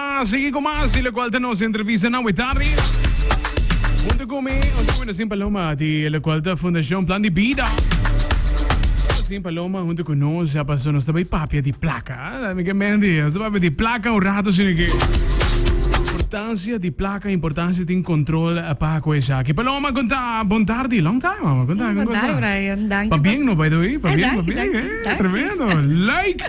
A sigui cu mas di locual ta nos entrevista na Wetari. Hunto cu mi, hunto cu Nosin Paloma di locual ta Fundacion Plan di Bida. Nosin Paloma hunto cu nos a paso, nos ta bay papia di placa. Ah, mi ke menti, nos ta papia di placa un rato si no ke. Importancia di placa, importancia tin control pa cu esaki. Paloma, con ta, bon tardi, long time, mama, con ta, con ta. Bondari, Brian. Danki. Pa bien, no, by the way, pa Ay, bien, pa danki, bien, danki, eh, danki. tremendo, like.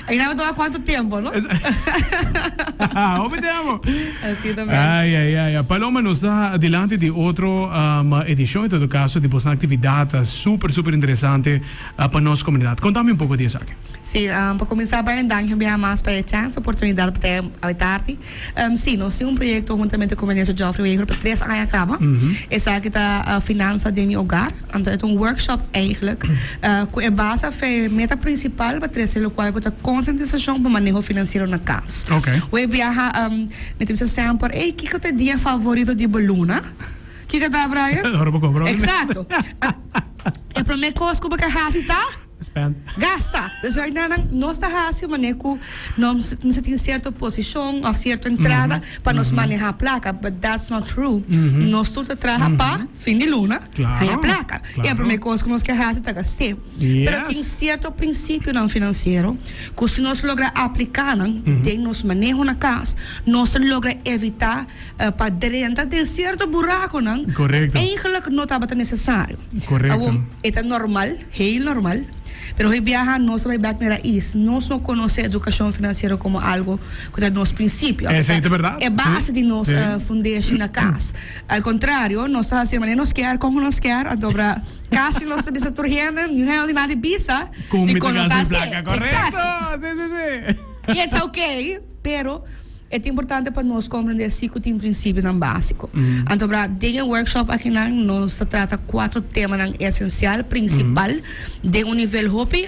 E graba tur a cuanto tiempo, no? Hopi tempo. Así ta mero. Ay, ay, ay, ay. Paloma, nos ta dilanti di otro um, edicion, en todo caso, di boso actividad ta super, super interesante uh, pa nos comunidad. Conta mi un poco di esaki. Sí, um, pa cuminsa, Byron, danki un biaha mas pa e chance, oportunidad pa trae awe tardi. Sí, nos tin un proyecto huntamente cu Minister Geoffrey Wever pa tres aña caba. Esaki ta Finanza den mi hogar. Anto e ta un workshop eigenlijk cu e basa afe meta principal pa trece locual cu ta Concientisacion pa maneho financiero na cas. Wei biaha mi ta bisa semper, Ey, kico ta e dia favorito di bo Luna? Kico ta, Brian? Ora bo compra un. Exacto. E prome cos cu bo ke haci ta. spend. Gasta. Des right now nan nos ta hasi manera cu nos mester tin cierto posicion of cierto entrada pa nos maneha placa but that's not true. Nos tur ta traha pa fin di luna haya placa. Y e primer cos cu nos ke hasi ta gast'e. Pero tin cierto principionan financiero cu si nos logra aplicanan den nos maneho na cas nos ta logra evita. pa drenta den sierto burakonan ku eigentlik no tabata nesesario. Awor, e ta normal, heel normal. Pero hoy biaha nos ta bai bèk na raiz. Nos no konosé edukashon finansiero komo algu ku ta nos prinsipio. Esei ta bèrdat. E base di nos fundashon na kas. Al kontrario, nos ta hasié manera nos kier, kònke nos kier, anto obra kasi nos ta bisa tur hende, niun hende di nadie bisa di kon nos ta hasié. Korekto! Si, si, si. I it's okay, pero. E ta importante pa nos komprendé así ku tin prinsipionan básiko. Anto obra, den e workshop akinan nos ta trata kuater temanan esensial, prinsipal, den un nivel hopi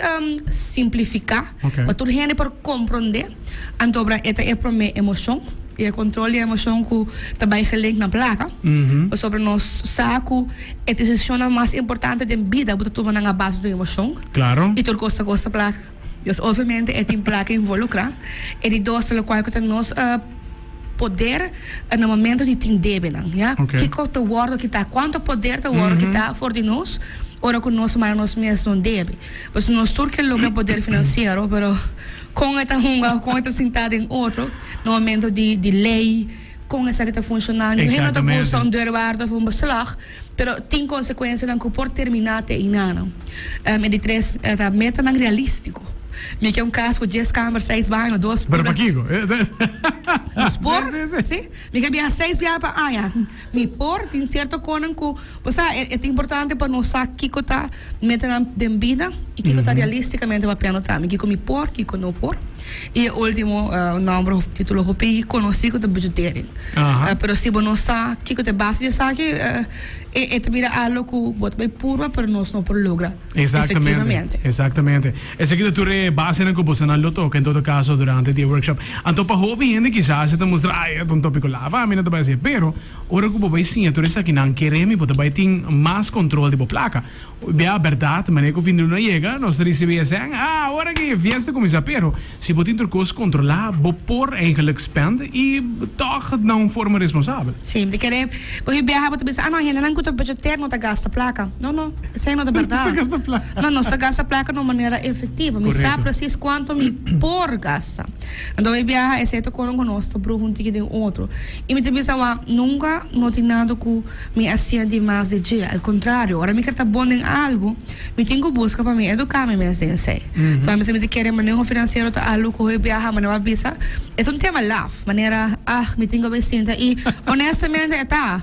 simplifiká, pa tur hende por komprendé. Anto obra, e ta e promé emoshon, i e kontrol di e emoshon ku ta bai gelink na plaka. Pasobra nos sa ku e desishonnan mas importante den bida bo ta tumanan a base di tu emoshon, i tur kos ta kos ta plaka. Nos obviamente e tin plaka involucra, e di dos ta locual cu ta nos poder na momento di tin debenan, ya, kico ta wordo kita, cuanto poder ta wordo kita for di nos ora cu nos manda nos mes un debe. Pues nos tur ke loke poder financiero, pero con e ta hunga, con e ta sinta den otro na momento di ley, con esaki ta funciona, niun hende no ta gusta un deurwaarder of un beslag. Pero tin consecuencianan cu por termina te eindano. E di tres ta metanan realistico. Mi kier un cas cu dies camber, seis baño, dos pura. Pero pakico? Nos por, si. Mi kier biaha seis biaha pa aña. Mi por, tin cierto conan cu, bo sa, e ta importante pa nos sa kico ta metanan den bida y kico ta realisticamente papia no ta. Mi kico mi por, kico no por. I e ultimo nomber of titulo hopi conoci cu ta Budgetering. Aha. Pero si bo no sa kico ta e base di esaki, e e ta bira algo cu bo ta bay purba pero nos no por logra efectivamente. Exactamente. Esaki ta tur e basenan cu bosonan lo toca en todo caso durante di e workshop. Anto pa hopi hende kisas e ta mustra, ay, e ta un topico laf, ami no ta bay haci e. Pero ora cu bo bay siña tur esakinan, kere mi bo ta bay tin mas control di bo placa. Bia berdad, manera cu fin de luna yega, nos ta ricibi esèn, Ah, awor aki e fiesta cuminsa! Pero, si bo tin tur cos controla, bo por eigenlijk spend y tog na un forma responsabel. Sí, di kere, bo hui biaha bo ta bisa, Ah, no, e hendenan cu ta budgeteer no ta gasta placa. No, no, esei no ta berdad. Nos ta gasta placa. No, nos ta gasta placa na un manera efectivo. Mi sa precies cuanto mi por gasta. Anto bai biaha, esei ta coron cu nos ta bruha un tiki den otro. Y mi ta bisa, Wak, nunca no tin nada cu. Mi a sia di mas di dje. Al kontrario, ora mi ker ta bon den algu, mi tin ku buska pa mi eduká mi mes den esei. Kua mi sibi ta kere maneho finansiero ta algu ku hopi biaha manera bo a bisa, e ta un tema laf, manera, ah, mi tin ku bai sinta i, onestamente e ta.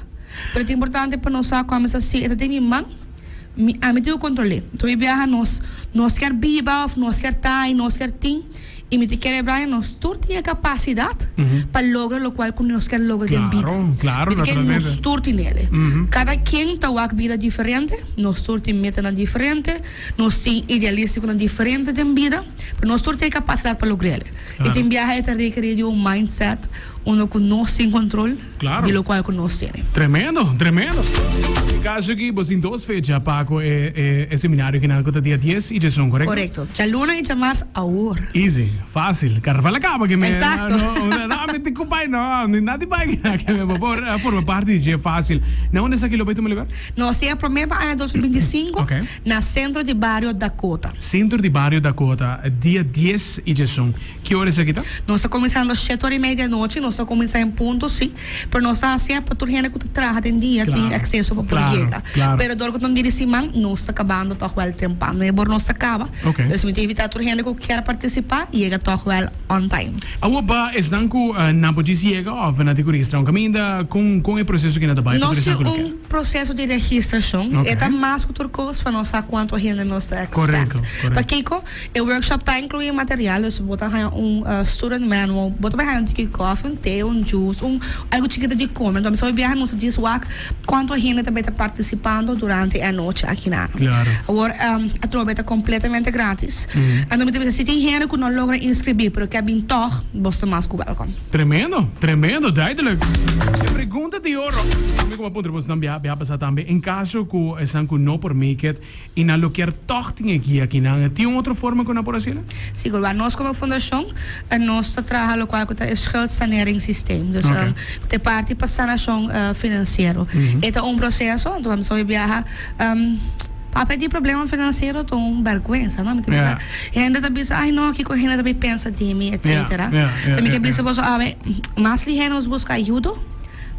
Pero e ta importante pa nos sa kua mi sa si e ta den mi man, mi, ami tin ku kontrol'é. Hopi biaha nos nos ker biba òf nos ker ta i nos ker tin. I mi ta kere bra e nos tur tin e kapasidat pa logra lokual ku nos ker logra den bida. Mi ta kere nos tur tin ele. Kada kien ta wak bida diferente, nos tur tin metanan diferente, nos tin idealístikonan diferente den bida, pero nos tur tin e kapasidat pa logra ele. E tin biaha e ta rekerí di un mindset unda ku nos tin kontrol. di lokual ku nos tene. Tremendo, tremendo! E kaso aki bo tin dos fecha pa ku e e seminario kinan ku ta dia dies i djesun, korekto? Korekto. Djaluna i djamars awor. Easy, fasil. Karnaval a kaba ke mera. Exacto. No, ami tin ku bai, no, ami na tin bai kina ke mera por a forma parti di dje fasil. Na unda esaki lo bai tuma lugar? No, si a prome pa aña dos mil binti sinku, Ok. na Sentro di Bario Dakota. Sentro di Bario Dakota, dia dies i djesun. Ki ora esaki ta? Nos ta kuminsá los shet ora i media di anochi, nos ta kuminsá en punto si, pero nos ta hasié pa tur hende ku ta traha den dia tin akseso pa por yega. Pero dor ku ta un dia di siman nos ta kabando tòg wèl tempran, no e bor nos ta kaba, dus mi ta invitá tur hende ku kier partisipá yega tòg wèl on time. Awo pa esnan ku nan por djis yega òf nan tin ku registrá un kaminda, kon kon e proseso ki nan ta bai pa tur esnan ku lo kier? Nos tin un proseso di registrashon, e ta mas ku tur kos pa nos sa kuantu hende nos ta ekspèkt. Pa kiko? E workshop ta inclui material, dus bo ta haña un student manual, bo ta bai haña un tiki coffee, un thee, un juice, un algu chikito di come. Enton mester bai biaha nos djis wak cuanto hende ta bai ta participando durante e anochi aki nan. Claro. Awor atrobe ta completamente gratis. Enton mi ta bisa si tin hende cu no logra inscribi pero ke bin tog, boso ta mas cu welcome. Tremendo, tremendo, duidelijk. E pregunta di oro, mi como a puntra boso nan biaha, biaha pasa tambe, en caso cu esan cu no por make it, Y nan lo kier tog tin e guia akinan. E tin un otro forma cu nan por haci la? Si, Gulbaan. Nos como fundacion nos ta traha locual cu ta e schuldsaneringssysteem. Dus Ok. cu ta e parti pa sanacion financiero. E ta un proceso, anto bo a sabi biaha, papia di problema financiero ta un bergwensa, no? Mi ta bisa, Yeah. hende ta bisa, ay no, kico hende ta bay pensa di mi, etcetera. Yeah, yeah, yeah, yeah. Mi ke bisa boso, awe, mas liher nos busca ayudo.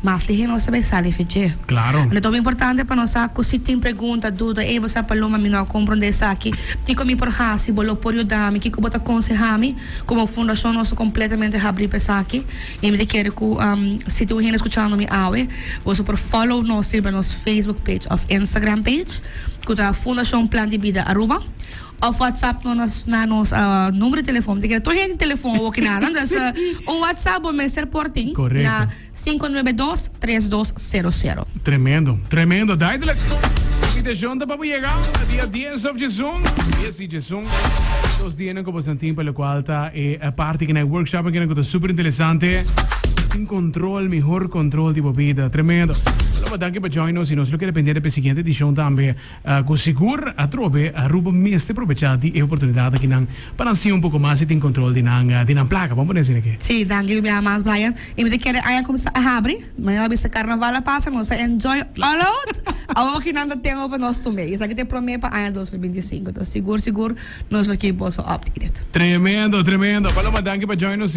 Mas lihé nos ta bai sa life dje. Claro. Anto ta bai importante pa nos sa cu si tin pregunta, duda, ey bo sa Paloma mi no a comprende esaki, kico mi por haci, bo lo por yuda mi, kico bo ta conseha mi? Como fundacion nos ta completamente habri pa esaki y mi ta kere cu si tin un hende scuchando mi awe boso por follow nos riba nos Facebook page of Instagram page cu ta Fundacion Plan di Bida Aruba. Of WhatsApp no nos na nos numero di telefoon. Te kere tur hende telefoon a woki na nan. Dus un WhatsApp bo mester por tin na sinku nuebe dos tres dos sero sero. Tremendo, tremendo, duidelijk. Invitacion ta pa bo yega na dia dies of djesun, dies di djesun. Dos dianan ku bo san tin pa lokual ta e parti kinan, e workshopen kinan ku ta super interesante. Tin control, mihor control di bo bida. Tremendo. Aloba danki pa join nos i nos lo kere pende di e siguiente edicion tambe. Cu sigur, atrobe Aruba mester probecha di e oportunidad aki nan pa nan siña un poco mas y tin control di nan di nan placa. Bo pone asina ke? Sí, danki mi bia mas Brian. Y mi ta kere e aña cuminsa a habri. Mañana a bisa Carnaval a pasa, nos a enjoy all out. Awo aki nan ta ten over nos tumbe. Y esaki ta e prome pa aña dos mil binti i sinku. Ta sigur sigur nos lo keep boso updated. Tremendo, tremendo. Paloma, danki pa join nos.